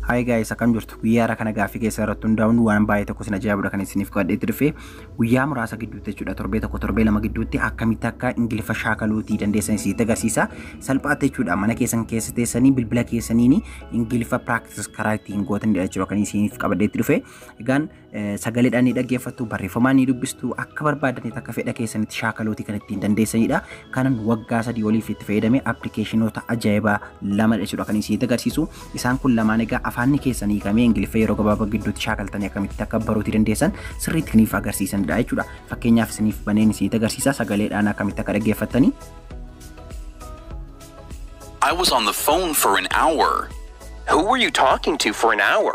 Hi guys akkam jirtu guyyaa irraa kana gaaffii keessa irratti hundaa'uun waan baay'ee tokko isin ajaa'ibudha kan isiniif godhee turfe guyyaa muraasa gidduutti jechuudha torbee tokko torbee lama gidduutti akkamitti akka ingiliffa shaakaluutii dandeessan isinitti agarsiisa salphaatti jechuudha mana keessan keessa teessanii bilbila keessaniin ingiliffa practice karaa ittiin gootanidha jechuudha kan isiniif qabadheetti dhufe egaan sagaledhaan ni dhaggeeffattu, barreeffamaan ni dubbistu, akka barbaadanitti akka fedha keessanitti shaakaluuti kan ittiin dandeessanidha. Kanan waggaa sadii oliif itti fayyadame appilikeeshinoota ajaa'ibaa lama jechuudha kan isin agarsiisu. Isaan kun lamaan egaa afaanni keessan hiikamee Ingiliffa yeroo gabaabaa gidduutti shaakaltanii akkamitti akka baruuti dandeessan sirriitti isiniif agarsiisanidha jechuudha. Fakkeenyaaf isiniif baneen isin agarsiisa sagaleedhaan akkamitti akka dhaggeeffattanii. I was on the phone for an hour. Who were you talking to for an hour?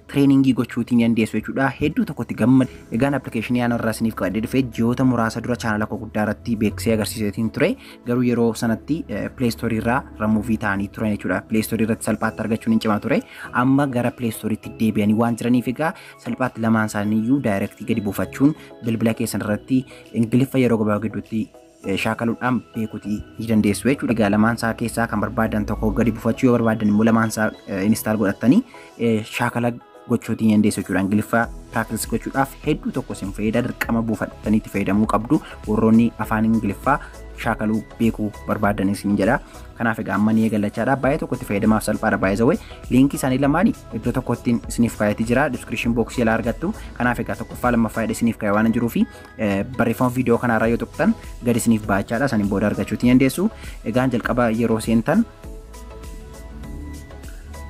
training gochuutii ni dandeessu jechuudha. Hedduu tokkotti gammad. Egaan appilikeeshinii aan irraa isiniif qabadhee dhufe ji'oota muraasa dura chaanala koo guddaa irratti beeksisee agarsiiseetiin ture. Garuu yeroo sanatti pileestoorii irraa ramuuvii ta'anii turan jechuudha. Pileestoorii irratti salphaatti argachuun hin cimaa ture. Amma gara pileestooriitti deebi'anii waan jiraniif egaa salphaatti lamaan isaanii iyyuu daayirektii gadi buufachuun bilbila keessan irratti ingiliffa yeroo gabaabaa gidduutti shaakaludhaan beekuti ni dandeessu jechuudha. Egaa lamaan isaa keessaa kan barbaadan tokko gadi bufachuu yoo barbaadan immoo lamaan isaa install godhattanii shaakala gochuutii ni dandeessu jechuudha. Ingiliffaa practice gochuudhaaf hedduu tokko isin fayyada dirqama buufattanii itti fayyadamuu qabdu warroonni afaan Ingiliffaa shaakaluu beekuu barbaadan isin jedha. Kanaaf egaa amma ni eegallachaadha. Baay'ee tokko itti fayyadamaaf salphaadha baay'ee zawwee. Liinkii isaanii lamaanii iddoo tokkottiin isiniif kaayatee jira. Description box jala argattu. Kanaaf egaa tokkoffaa lammaffaa isiniif kaayee waan jiruufi barreeffama viidiyoo kanaarra yoo tuqxan gadi isiniif baachaadha saniin booda argachuu ni dandeessu. Egaan jalqaba yeroo seentan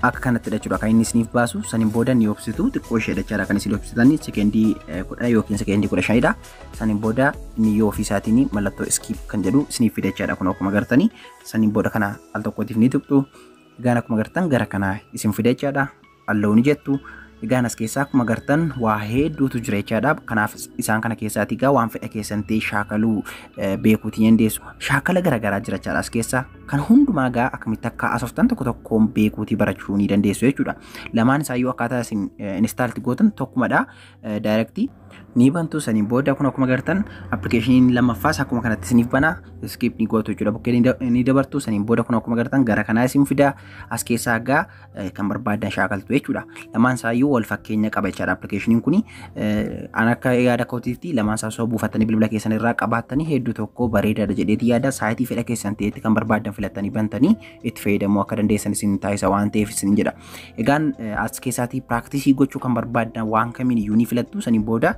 akka kanatti jechuudha kan inni isiniif baasu saniin booda ni obsitu xiqqoo ishee jechaadha kan isin obsitan sekendii kudha yookiin sekendii kudha shanidha saniin booda inni yoo ofii isaatiin mallattoo iskiip kan jedhu isiniif fide jechaadha kun akkuma gartanii saniin booda kana al tokkootiif ni tuqxu egaan akkuma gartan gara kana isin fide jechaadha Allow ni jettu. Egaan as keessaa akkuma gartan waa hedduutu jira jechaadha. Kanaaf isaan kana keessaati egaa waan fedha keessan ta'e shaakaluu beekuuti dandeessu. Shaakala garaagaraa jira jechaadha as keessaa. Kan hundumaa egaa akkamitti akka haasoftan tokko tokkoon beekuuti barachuu ni dandeessu jechuudha. Lamaan isaa yoo akkaataa isin inistaalti gootan tokkumadha. Daayirektii ni bantu saniin booda kun akkuma gartan appilikeeshiniin lammaffaas akkuma kanatti isiniif bana iskiip ni gootu jechuudha. Bukkee ni dabartu saniin booda kun akkuma gartan gara kanaa isin fida as keessaa egaa kan barbaadan shaakaltu jechuudha. Lamaan isaayyuu wal fakkeenya qaba jechaadha appilikeeshiniin kun. An akka yaada kootiitti lamaan isaa osoo buufattanii bilbila keessan irraa qabaattanii hedduu tokko bareedaadha jedheeti yaada saayitii fedha keessan ta'etti kan barbaadan filattanii bantanii itti fayyadamuu akka dandeessan isin taasisa waan ta'eef isin jedha. Egaan as keessaatii piraaktisii gochuu kan barbaadan waan kamiin iyyuu ni filattu saniin booda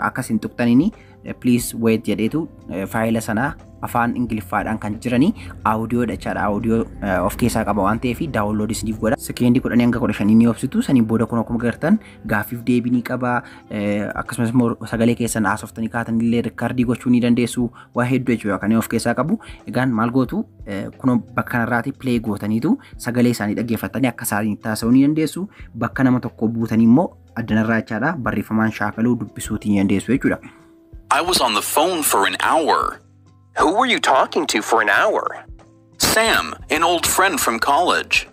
akka isin tuqxaniin please wait jedheetu faayila sanaa afaan ingiliffaadhaan kan jiranii audio jechaadha audio of keessaa qaba waan ta'eef daawunlood isiniif godha sekeendi kudhanii hanga kudha shanii ni obsitu saniin booda kun akkuma gartan gaaffiif deebii ni qaba akkasumas immoo sagalee keessan haasoftanii kaatan illee rikkardii gochuu ni dandeessu waa hedduu jechuudha kan of keessaa qabu egaan maal gootu kun bakka kanarraati pilee gootaniitu sagalee isaanii dhaggeeffatanii akka isaanii taasisuu ni dandeessu bakka nama tokko buutanii immoo addanarraa jechaadha barreeffamaan shaakaluu dubbisuutiin ni dandeessu jechuudha. I was on the phone for an hour. Who were you talking to for an hour? Sam, an old friend from college.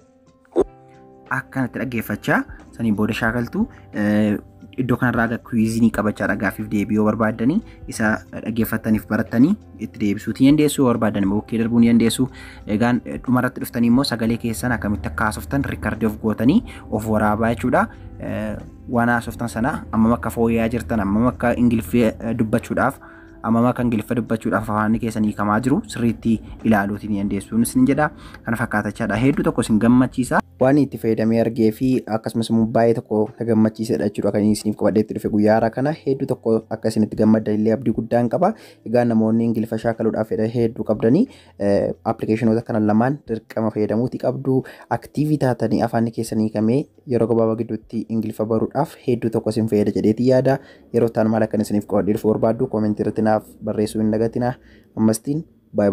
akkanatti dhaggeeffachaa saniin booda shaakaltu eh, iddoo kanarraa aga kwiizinii qabachaadha gaaffiif deebii yoo barbaaddanii isa dhaggeeffattaniif barattanii itti deebisuuti ni dandeessu yoo barbaadan immoo bukkee darbuu ni dandeessu egaan dhumarratti dhuftanii immoo sagalee keessan akkamitti akka haasoftan riikardii of gootanii of waraabaa jechuudha waan haasoftan sana ammam akka fooyya'aa jirtan ammam akka ingiliffee dubbachuudhaaf ammam akka ingiliffa dubbachuudhaaf afaanni keessan hiikamaa jiru sirriitti ilaaluuti ni dandeessu isin jedha kana fakkaatachaadha hedduu tokko isin gammachiisa. waan itti fayyadamee argee fi akkasumas immoo baay'ee tokko na gammachiisedha jechuudha kan isiniif qabadhee itti dhufe guyyaa haaraa kana hedduu tokko akka isinitti gammaddan illee abdii guddaan qaba Egaa namoonni Ingiliffa shaakaluudhaaf fedha hedduu qabdanii appilikeeshinoota kana lamaan dirqama fayyadamuuti qabdu. Aktiivii taatanii afaan keessan hiikamee yeroo gabaabaa gidduutti Ingiliffa baruudhaaf hedduu tokko isin fayyada jedheeti yaada. Yeroo ta'an maal akkan isiniif qo'adhee dhufu barbaaddu koomentii irratti naaf barreessuu hin dagatina. Ammastiin baay'ee